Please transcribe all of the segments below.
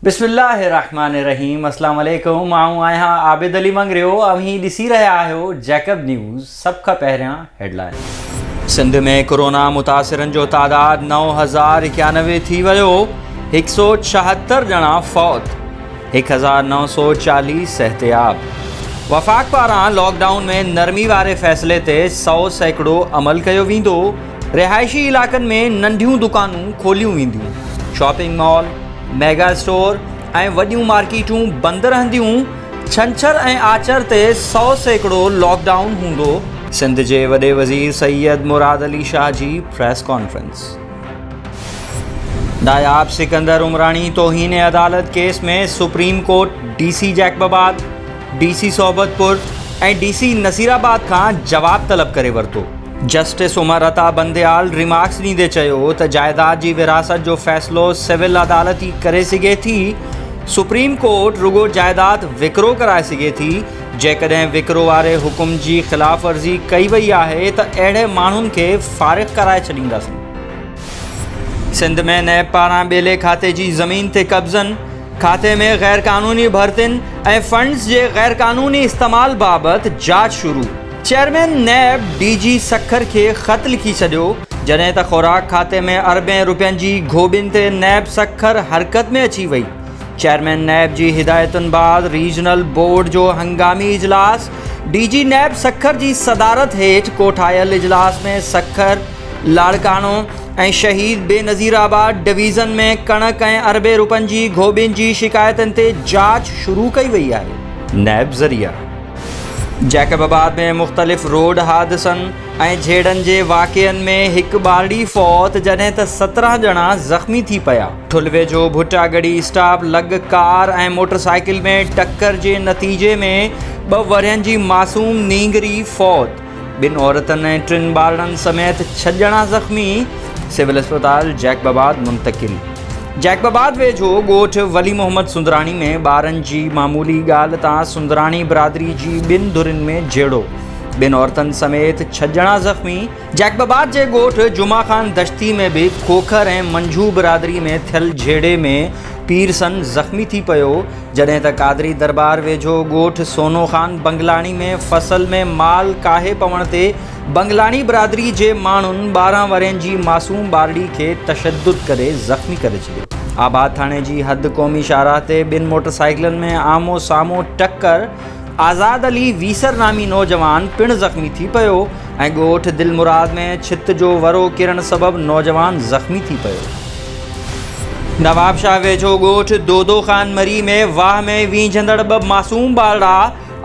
بسم الله الرحمن الرحيم اسلام عليڪم آئون آهيان عابد علي منگريو اوهين ڏسي رهيا آهيو جيڪب نيوز سڀ کان پهريان هيڊلائين سنڌ ۾ ڪورونا متاثرن جو تعداد نو هزار اڪيانوي ٿي ويو هڪ سو ڇاهتر ڄڻا فوت هڪ هزار نو سؤ چاليهه صحتياب وفاق پاران لاڪ ڊائون ۾ نرمي واري فيصلي تي سؤ سيڪڙو عمل ڪيو ويندو، رهائشي علائقن ۾ ننڍيون دڪانون کوليون وينديون، شاپنگ مال، ميگا اسٽور ۽ وڏيون مارڪيٽون بند رهنديون، ڇنڇر ۽ آچر تي سؤ سيڪڙو لاڪ ڊائون هوندو. سنڌ جي وڏي وزير سيد مراد علي شاهه جي پريس ڪانفرنس. ناياب سڪندر عمراڻي توهين عدالت case ۾ supreme court D C Jacobabad, D C Sohbatpur ۽ D C Naseer آباد کان جواب طلب ڪري ورتو. جسٽس عمر عطا بنديال ريمارڪس ڏيندي چيو ته جائيداد جي ورهاست جو فيصلو سول عدالت ئي ڪري سگهي ٿي، سپريم ڪورٽ رڳو جائيداد وڪرو ڪرائي سگهي ٿي، جيڪڏهن وڪرو واري حڪم جي خلاف ورزي ڪئي وئي آهي ته اهڙي ماڻهن کي فارغ ڪرائي ڇڏينداسين. سنڌ ۾ نيب پاران ٻيلي کاتي جي زمين تي قبضن، کاتي ۾ غيرقانوني ڀرتين ۽ فنڊز جي غيرقانوني استعمال بابت جاچ شروع، chairman NAB D G Sukkur کي خط لکي ڇڏيو، جڏهن ته خوراڪ کاتي ۾ اربين رپين جي گهوٻين تي نيب سکر حرڪت ۾ اچي وئي. چيئرمين نيب جي هدايتن بعد ريجنل بورڊ جو هنگامي اجلاس، ڊي جي نيب سکر جي صدارت هيٺ ڪوٺايل اجلاس ۾ سکر، لاڙڪاڻو ۽ شهيد بينظير آباد ڊويزن ۾ ڪڻڪ ۽ اربين روپين جي گهوٻين جي شڪايتن تي جاچ شروع ڪئي وئي آهي. نيب ذريعا جيڪب آباد ۾ مختلف روڊ حادثن، ۽ جهيڙن جي واقعن ۾ هڪ ٻارڙي فوت جڏهن ته سترهن ڄڻا زخمي ٿي پيا. ٺلوي جو ڀٽاڳڙي اسٽاپ لڳ ڪار ۽ موٽرسائيڪل ۾ ٽڪر جي نتيجي ۾ ٻه ورهين جي معصوم نينگري فوت، ٻن عورتن ۽ ٽن ٻارڙن سميت ڇهه ڄڻا زخمي، سول اسپتال جيڪب آباد منتقل. جيڪب آباد ويجهو ڳوٺ ولي محمد سندراڻي ۾ ٻارن جي معمولي ڳالهه تان سندراڻي برادري جي ٻن ڌرين ۾ جهيڙو. ٻن عورتن سميت ڇهه ڄڻا زخمي، جيڪب آباد جي ڳوٺ جمعه خان دشتي ۾ به کوکر ۽ منجهو برادري ۾ ٿيل جهيڙي ۾ پيرسن زخمي ٿي پيو، جڏهن ته قادري درٻار ويجهو ڳوٺ سونو خان بنگلاڻي ۾ فصل ۾ مال ڪاهي پوڻ تي بنگلاڻي برادري جي ماڻهن ٻارهن ورهين جي معصوم ٻارڙي کي تشدد ڪري زخمي ڪري ڇڏيو. آباد ٿاڻي جي حد قومي شاهراهه تي ٻن موٽرسائيڪلن ۾ آمهون سامهون ٽڪر، آزاد علي ويسر نامي نوجوان پڻ زخمي ٿي پيو ۽ ڳوٺ دلمراد ۾ ڇت جو ورو ڪرڻ سبب نوجوان زخمي ٿي پيو. نوابشاهه ويجهو ڳوٺ دودو خان مري ۾ واهه ۾ وينجهندڙ ٻه معصوم ٻارڙا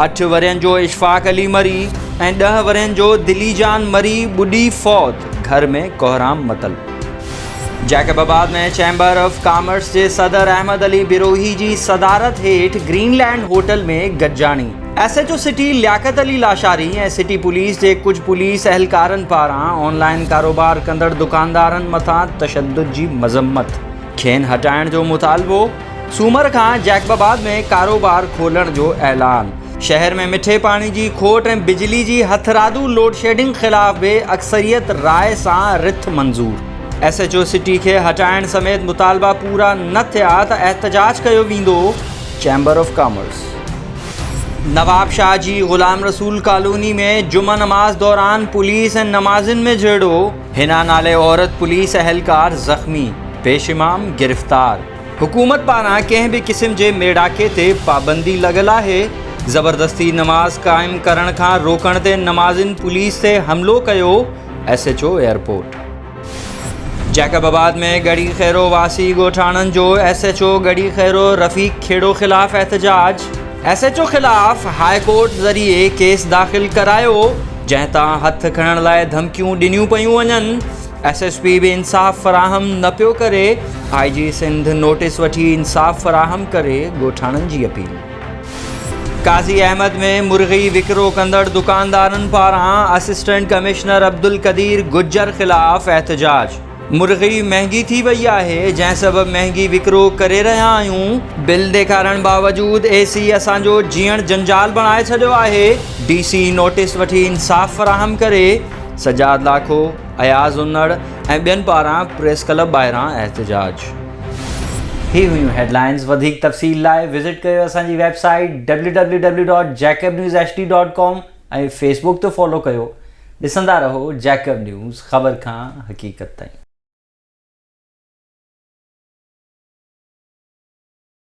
اٺ ورهين جو اشفاق علي مري ۽ ڏهه ورهين جو دليجان مري ٻڏي فوت، گهر ۾ ڪهرام متل. Jacobabad ۾ chamber of commerce جي صدر احمد علي بروهي جي صدارت هيٺ گرين لينڊ هوٽل ۾ گڏجاڻي S H O city Liaquat Ali Lashari ۽ city police جي ڪجهه پوليس اهلڪارن پاران آن لائن ڪاروبار ڪندڙ دڪاندارن مٿان تشدد جي مذمت کين هٽائڻ جو مطالبو سومر کان جيڪب آباد ۾ ڪاروبار کولڻ جو اعلان، شهر ۾ مٺي پاڻي جي کوٽ ۽ بجلي جي هٿرادو لوڊشيڊنگ خلاف به اڪثريت راء سان رٿ منظور، ايس ايڇ او سٽي کي هٽائڻ سميت مطالبا پورا نه ٿيا ته احتجاج ڪيو ويندو، chamber of commerce. Nawabshah جي غلام رسول ڪالوني ۾ جمعه نماز دوران پوليس ۽ نمازين ۾ جهيڙو. حنا نالي عورت پوليس اهلڪار زخمي، پيش امام گرفتار. حڪومت پاران ڪنهن به قسم جي ميڙاڪي تي پابندي لڳل آهي، زبردستي نماز قائم ڪرڻ کان روڪڻ تي نمازين پوليس تي حملو ڪيو، S H O airport. Jacobabad ۾ Garhi Khairo واسي ڳوٺاڻن جو S H O Garhi Khairo Rafiq Khuhro خلاف احتجاج، ايس ايڇ او خلاف هاء ڪورٽ ذريعي ڪيس داخل ڪرايو، جنهن تان هٿ کڻڻ لاء ڌمڪيون ڏنيون پيون وڃن، ايس ايس پي به انصاف فراهم نه پيو ڪري، آء جي سنڌ نوٽيس وٺي انصاف فراهم ڪري، ڳوٺاڻن جي اپيل. قاضي احمد ۾ مرغي وڪرو ڪندڙ دڪاندارن پاران اسسٽنٽ ڪمشنر عبدالقدير گجر خلاف احتجاج. مرغي مهنگي ٿي وئي آهي جنهن سبب مهنگي وڪرو ڪري رهيا آهيون، بل ڏيکارڻ باوجود اي سي اسان جو جيئڻ جنجال بڻائي ڇڏيو آهي، ڊي سي نوٽيس وٺي انصاف فراهم ڪري، سجاد لاکو، اياز انڙ ۽ ٻين پاران پريس ڪلب ٻاهران احتجاج. هي هيون هيڊلائنز وڌيڪ تفصيل لاء وزٽ ڪيو اسان جي website W W W dot Jacob news H D dot com. ۽ Facebook تي فالو ڪيو ڏسندا رهو جيڪب نيوز خبر کان حقيقت تائين.